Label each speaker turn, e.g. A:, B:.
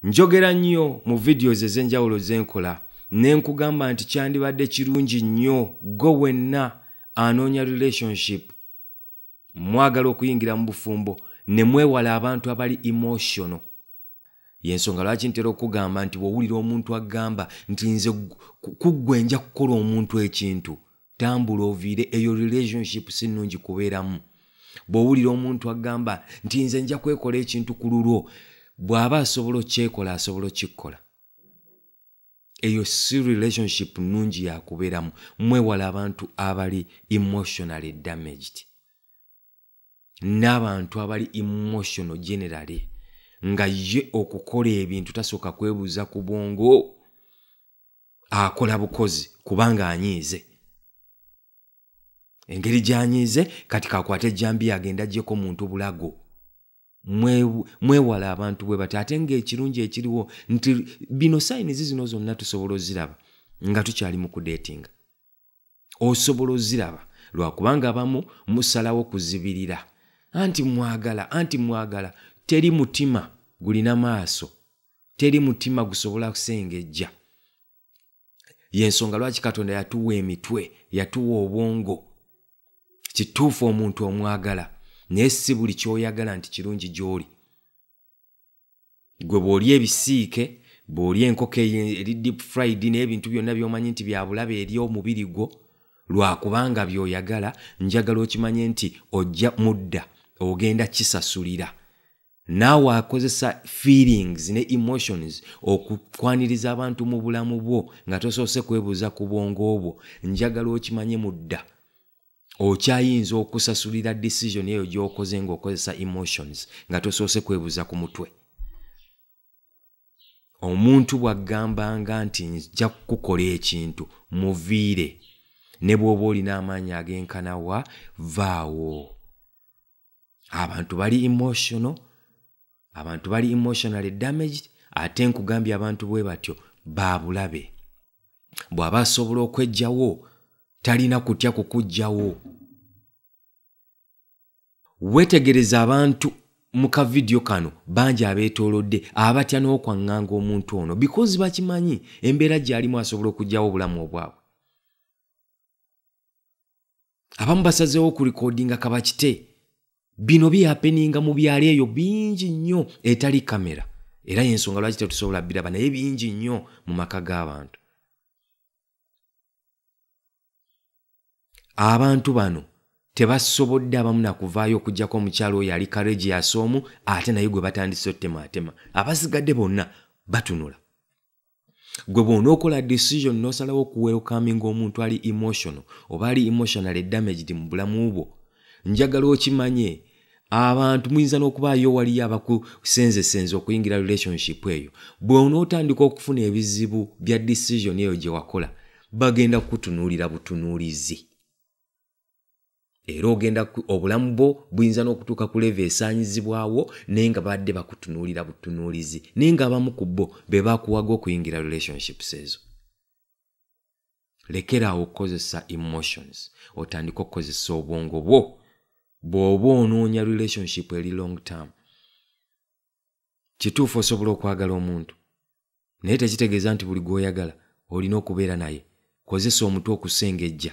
A: njogera nnyo mu videos ez'enjawulo zenkola ne nkugamba nti kyandibadde kirungi nnyo gwe wenna anoonya relationship mwagala okuyingira mu bufumbo ne mwewala abantu abali emotional yensonga lwaki ntera okugamba nti bwowulira omuntu agamba nti nze kuggwe nja kukola omuntu ekintu tambula oviire eyo relationship si nnungi kubeeramu bwowulira omuntu agamba nti nze nja kwekola ekintu ku lulwo bw'aba asobola okyekola asobola okikkola eyo si relationship nnungi yakubeeramu mwewala abantu abali emotionally damaged n'abantu abali emotional generally nga ye okukola ebintu tasooka kwebuuza ku bwongo akola bukozi kubanga anyiize engeri gyanyiize kati kakwata ejjambiya agenda jeko muntu bulago mwewala abantu bwe bati ate ngaekirungi ekiriwo nti bino sayinizi zino zonna tusobola oziraba nga tukyali mu kudeetinga osobola oziraba lwakubanga abamu musalawo kuzibirira anti mwagala anti mwagala teri mutima gulina maaso teri mutima gusobola kusengejja yensonga lwaki katonda yatuwa emitwe yatuwa obwongo kituufu omuntu omwagala naye si buli kyoyagala nti kirungi gy'oli gwe bw'olya ebisiike bw'olya enkoko eri deep fried n'ebintu byonna by'omanyi nti byabulabe eri omubiri gwo lwakubanga by'oyagala njagala okimanye nti ojja mudda ogenda kisasulira naawe akozesa feelings ne emotions okukwaniriza abantu mu bulamu bwo nga tosoose kwebuuza ku bwongo obwo njagala okimanye mudda okyayinza okusasulira decision eyo gyokoze ngaokozesa emotions nga tosoose kwebuza ku mutwe omuntu bw'aggambanga nti nja kukukola ekintu muviire ne bw'oba olina amaanyi ag'enkana wa vaawo abantu bali emotional abantu bali emotionally damaged ate nkugambye abantu bwe batyo babulabe bw'aba asobola okwejjawo talina kutya kukujjawo wetegereza abantu mu kavidiyo kano bangi abeetoolodde abatya n'okwaŋŋanga omuntu ono bikozi bakimanyi embeera gy'alimu asobola okugyawo obulamu obwabwe abamu basazeewo ku likodinga kabakite bino bihapeninga mu byalo eyo bingi nnyo etali kamera era yensonga lwaki tetusobola biraba naye bingi nnyo mu maka g'abantu abantu bano tebasobodde abamu nakuvaayo okugyako omukyalo oyo ali karegias omu ate naye gwe batandise otemaatema abasigadde bonna batunula gwe bwonookola decision nosalawo okuwelcominga omuntu ali emotional oba ali emotionally damaged mu bulamu bwo njagala okimanye abantu muyinza n'okubaayo waliyo abakusenzesenza okuyingira relationship eyo bwonootandika okufuna ebizibu bya decision eyo gye wakola bagenda kukutunuulira butunuulizi era ogenda obulamu bwo buyinza n'okutuuka ku leeva esaanyizibwawo naye nga baadde bakutunuulira butunuulizi naye nga abamu ku bo be bakuwaga okuyingira relationships ezo lekeraawo okukozesa emotions otandike okukozesa obwongo bwo bw'oba onoonya relationship eri long term kituufu osobola okwagala omuntu naye tekitegeeza nti buli gw'oyagala olina okubeera naye kozesa omutwe okusengejja